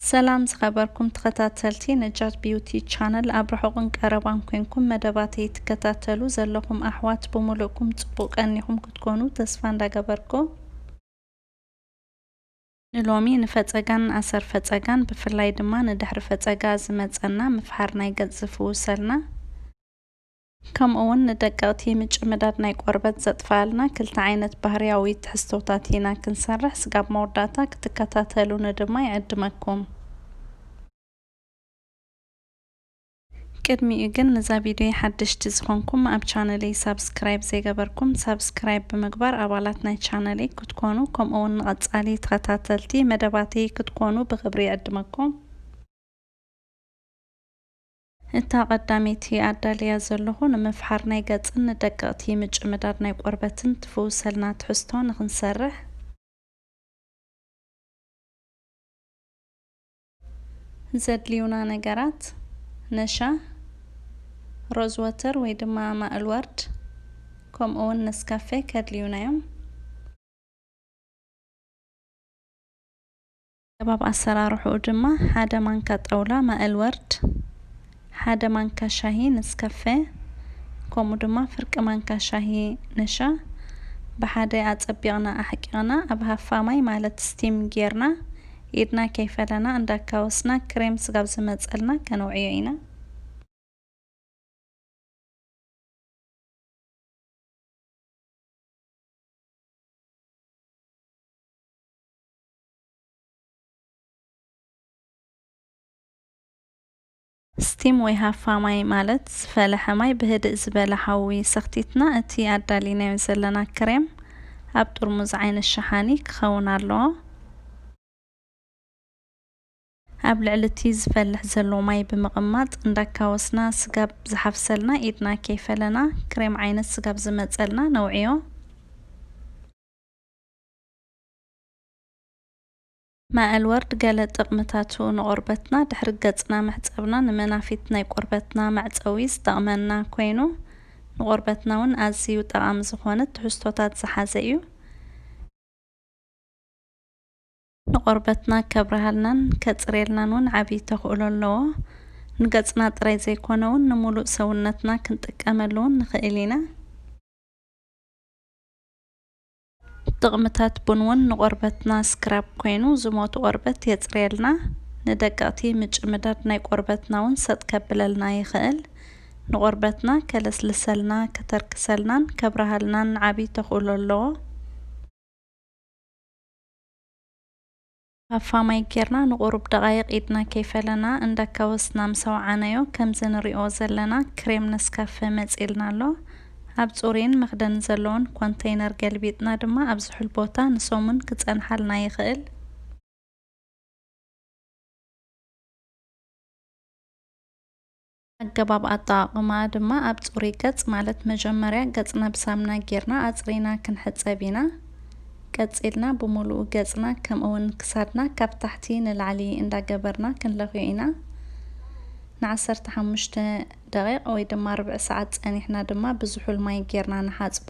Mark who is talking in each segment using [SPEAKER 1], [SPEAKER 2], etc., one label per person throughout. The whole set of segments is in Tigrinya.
[SPEAKER 1] ሰላም ዝኸበርኩም ተኸታተልቲ ነጃት ቢዩቲ ቻነል ኣብ ርሑቕን ቀረባን ኮንኩም መደባተይ ትከታተሉ ዘለኹም ኣሕዋት ብምሉእኩም ጽቡቕ ቀኒኹም ክትኮኑ ተስፋ እንዳገበርኩ ንሎሚ ንፈጸጋን ኣሰር ፈጸጋን ብፍላይ ድማ ንድሕሪ ፈጸጋ ዝመጸና ምፍሓር ናይ ገጽ ዝፍውሰልና ከምኡ'ውን ንደቀቕቲ ምጭምዳድ ናይ ቆርበት ዘጥፍኣልና ክልተ ዓይነት ባህርያዊ ትሕዝቶታት ኢና ክንሰርሕ ስጋብ መወዳእታ ክትከታተሉኒ ድማ ይዕድመኩም። ቅድሚኡ ግን ንዛ ቪድዮይ ሓደሽቲ ዝኾንኩም ኣብ ቻነለይ ሳብስክራይብ ዘይገበርኩም ሳብስክራይብ ብምግባር ኣባላት ናይ ቻነለይ ክትኮኑ ከምኡ'ውን ንቐጻሊ ተኸታተልቲ መደባተይ ክትኮኑ ብኽብሪ ይዕድመኩም። እታ ቀዳመይቲ ኣዳልያ ዘለኹ ንምፍሓር ናይ ገጽን ንደቀቕቲ ምጭምዳድ ናይ ቆርበትን ትፍውሰልና ትሕዝቶ ንኽንሰርሕ። ዘድልዩና ነገራት፣ ነሻ፣ ሮዝ ወተር ወይ ድማ ማእል ወርድ ከምኡ ውን ነስካፌ ከድልዩና ዮም። ኣገባብ ኣሰራርሕኡ ድማ ሓደ ማንካ ጣውላ ማእል ወርድ፣ ሓደ ማንካ ሻሂ ነስከፈ፣ ከምኡ ድማ ፍርቂ ማንካ ሻሂ ነሻ ብሓደ ኣጸቢቕና ኣሕቂቕና ኣብ ሃፋ ማይ ማለት ስቲም ጌርና ኢድና ከይፈለና እንዳካወስና ክሬም ስጋብ ዝመጸልና ከነውዕዮ ኢና። ስቲም ወይ ሃፋ ማይ ማለት ዝፈለሐ ማይ ብህድእ ዝበለ ሓዊ ሰኽቲትና እቲ ኣዳሊናዮ ዘለና ክሬም ኣብ ጥርሙዝ ዓይነት ሸሓኒ ክኸውን ኣለዎ። ኣብ ልዕሊ እቲ ዝፈልሕ ዘሎ ማይ ብምቕማጥ እንዳካወስና ስጋብ ዝሓፍሰልና ኢድና ከይፈለና ክሬም ዓይነት ስጋብ ዝመጸልና ነውዕዮ። መዐልወርድ ገለ ጥቕምታቱ ንቆርበትና ድሕሪ ገጽና መሕጸብና ንመናፊት ናይ ቆርበትና መዕጸዊ ዝጠቕመና ኮይኑ ንቆርበትና ውን ኣዚዩ ጠቓሚ ዝኾነ ትሕዝቶታት ዝሓዘ እዩ። ንቆርበትና ከብርሃልናን ከጽርየልናን ውን ዓቢ ተኽእሎ ኣለዎ። ንገጽና ጥራይ ዘይኮነ ውን ንሙሉእ ሰውነትና ክንጥቀመሉ ውን ንኽእል ኢና። ጥቕምታት ቡን ውን ንቆርበትና ስክራብ ኮይኑ ዝሞቱ ቆርበት የፅርየልና፣ ንደቀቕቲ ምጭምዳድ ናይ ቆርበትና ውን ሰጥ ከብለልና ይኽእል። ንቆርበትና ከለስልሰልና፣ ከተርክሰልናን ከብርሃልናን ዓብይ ተኽእሎ ኣለዎ። ሃፋ ማይ ጌርና ንቑሩብ ደቓይቕ ኢድና ከይፈለና እንዳካወስና ምስ ኣውዓናዮ ከምዚ ንሪኦ ዘለና ክሬም ነስካፈ መጺልና ኣሎ። ኣብ ጽሩይን መኽደኒ ዘለዎን ኮንተይነር ገልቢጥና ድማ ኣብ ዝሑል ቦታ ንሰሙን ክጸንሓልና ይኽእል። ኣገባብ ኣጠቓቕምኣ ድማ ኣብ ፅሩይ ገፅ ማለት መጀመርያ ገፅና ብሳምና ገይርና ኣፅሪና ክንሕፀብ ኢና። ቀፂልና ብሙሉኡ ገፅና ከምኡ ውን ክሳድና ካብ ታሕቲ ንላዕሊ እንዳገበርና ክንለኽዮ ኢና። ን ዓሰርተ ሓሙሽተ ደቒቕ ወይ ድማ ርብዒ ሰዓት ፀኒሕና ድማ ብዝሑል ማይ ገይርና ንሓፅቦ።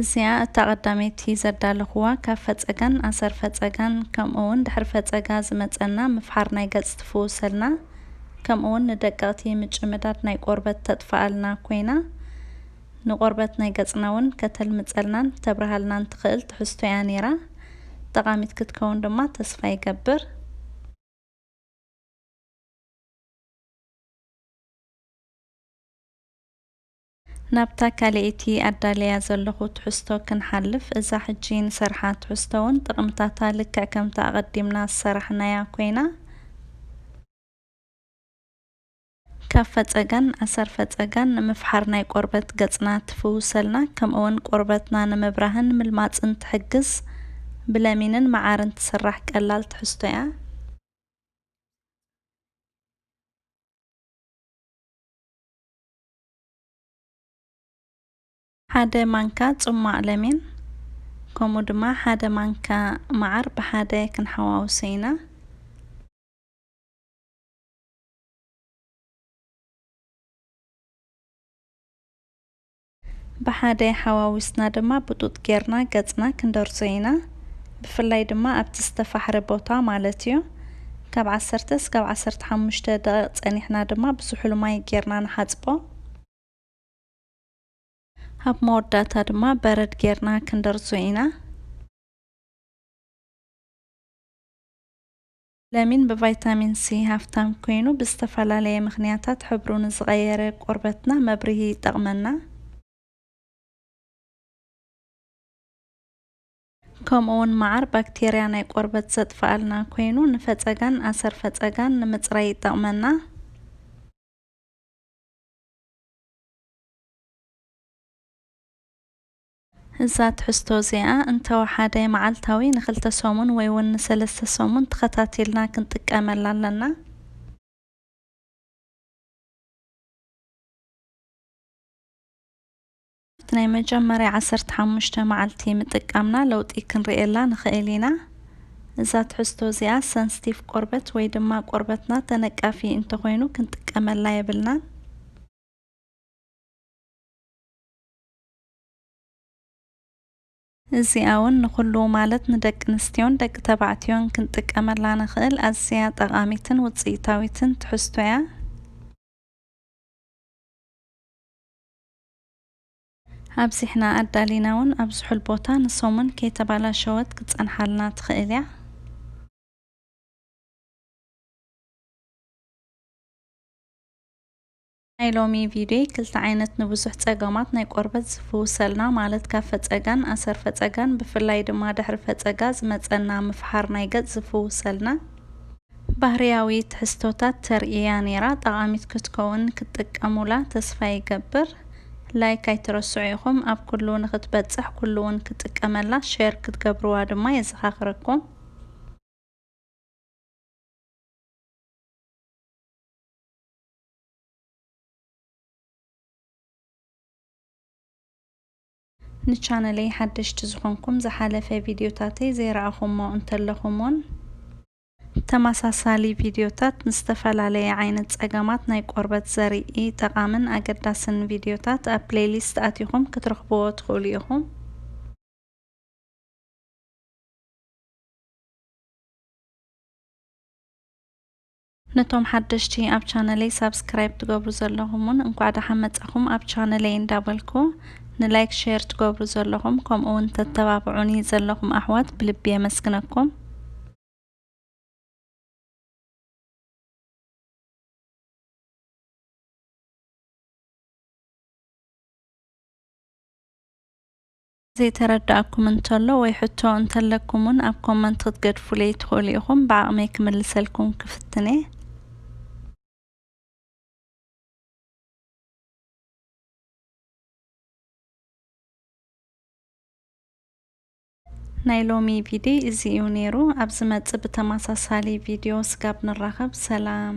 [SPEAKER 1] እዚኣ እታ ቀዳመይቲ ዘዳለኹዋ ካብ ፈጸጋን ኣሰር ፈጸጋን ከምኡውን ድሕሪ ፈጸጋ ዝመጸና ምፍሓር ናይ ገጽ ትፍውሰልና ከምኡውን ንደቀቕቲ ምጭምዳድ ናይ ቆርበት ተጥፍኣልና ኮይና ንቆርበት ናይ ገጽና ውን ከተልምጸልናን ተብርሃልናን ትኽእል ትሕዝቶ እያ ኔራ ጠቓሚት ክትከውን ድማ ተስፋ ይገብር። ናብታ ካልኤይቲ ኣዳልያ ዘለኹ ትሕዝቶ ክንሓልፍ፣ እዛ ሕጂ ንሰርሓ ትሕዝቶ'ውን ጥቕምታታ ልክዕ ከምታ ኣቐዲምና ዝሰራሕናያ ኮይና፣ ካብ ፈጸጋን ኣሰር ፈጸጋን ንምፍሓር ናይ ቆርበት ገጽና ትፍውሰልና፣ ከምኡ'ውን ቆርበትና ንምብራህን ምልማጽን ትሕግዝ ብለሚንን መዓርን ትስራሕ ቀላል ትሕዝቶ'ያ። ሓደ ማንካ ጽሟቕ ለሚን ከምኡ ድማ ሓደ ማንካ መዓር ብሓደ ክንሓዋውሶ ኢና። ብሓደ ሓዋዊስና ድማ ብጡጥ ጌርና ገጽና ክንደርዞ ኢና። ብፍላይ ድማ ኣብቲ ዝተፋሕረ ቦታ ማለት እዩ። ካብ ዓሰርተ እስካብ ዓሰርተ ሓሙሽተ ደቒቕ ጸኒሕና ድማ ብዝሑል ማይ ጌርና ንሓጽቦ። ኣብ መወዳእታ ድማ በረድ ጌርና ክንደርዞ ኢና። ለሚን ብቫይታሚን ሲ ሃፍታም ኮይኑ ብዝተፈላለየ ምኽንያታት ሕብሩ ንዝቐየረ ቆርበትና መብርሂ ይጠቕመና። ከምኡውን መዓር ባክቴርያ ናይ ቆርበት ዘጥፍኣልና ኮይኑ ንፈፀጋን ኣሰር ፈፀጋን ንምፅራይ ይጠቕመና። እዛ ትሕዝቶ እዚኣ እንተወሓደ መዓልታዊ ንክልተ ሰሙን ወይ እውን ንሰለስተ ሰሙን ተኸታቲልና ክንጥቀመላ ኣለና። ኣብቲ ናይ መጀመርያ ዓሰርተ ሓሙሽተ መዓልቲ ምጥቃምና ለውጢ ክንርእየላ ንኽእል ኢና። እዛ ትሕዝቶ እዚኣ ሰንስቲቭ ቆርበት ወይ ድማ ቆርበትና ተነቃፊ እንተኾይኑ ክንጥቀመላ የብልናን። እዚኣ ውን ንኹሉ ማለት ንደቂ ኣንስትዮን ደቂ ተባዕትዮን ክንጥቀመላ ንኽእል ኣዝያ ጠቓሚትን ውጽኢታዊትን ትሕዝቶ እያ። ኣብዚሕና ኣዳሊና ውን ኣብ ዝሑል ቦታ ንሰሙን ከይተባላሸወት ክትጸንሓልና ትኽእል እያ። ናይ ሎሚ ቪድዮይ ክልተ ዓይነት ንብዙሕ ጸገማት ናይ ቆርበት ዝፍውሰልና ማለት ካብ ፈጸጋን ኣሰር ፈጸጋን ብፍላይ ድማ ድሕሪ ፈጸጋ ዝመጸና ምፍሓር ናይ ገጽ ዝፍውሰልና ባህርያዊ ትሕዝቶታት ተርእያ ኔራ ጠቓሚት ክትከውን ክትጥቀሙላ ተስፋ ይገብር ላይክ ኣይትረስዑ ኢኹም ኣብ ኩሉ ንኽትበጽሕ ኩሉ ውን ክጥቀመላ ሼር ክትገብርዋ ድማ የዘኻኽረኩም። ንቻነለይ ሓደሽቲ ዝኾንኩም ዝሓለፈ ቪድዮታተይ ዘይረኣኹሞ እንተለኹም ውን ተመሳሳሊ ቪድዮታት ንዝተፈላለየ ዓይነት ጸገማት ናይ ቆርበት ዘርኢ ጠቓምን ኣገዳስን ቪድዮታት ኣብ ፕለይሊስት ኣቲኹም ክትረኽብዎ ትኽእሉ ኢኹም። ነቶም ሓደሽቲ ኣብ ቻነለይ ሳብስክራይብ ትገብሩ ዘለኹም ውን እንኳዕ ደሓን መጻኹም ኣብ ቻነለይ እንዳበልኩ ንላይክ ሼር ትገብሩ ዘለኹም ከምኡ ውን ተተባብዑኒ ዘለኹም ኣሕዋት ብልቢ የመስግነኩም። ዘይተረደኣኩም እንተሎ ወይ ሕቶ እንተለኩም ውን ኣብ ኮመንት ክትገድፉለይ ትክእሉ ኢኩም ብዓቅመይ ክምልሰልኩም ክፍትን'የ። ናይ ሎሚ ቪድይ እዚ እዩ ነይሩ ኣብ ዝመጽእ ብተማሳሳሊ ቪድዮ ስጋብ ንራኸብ ሰላም።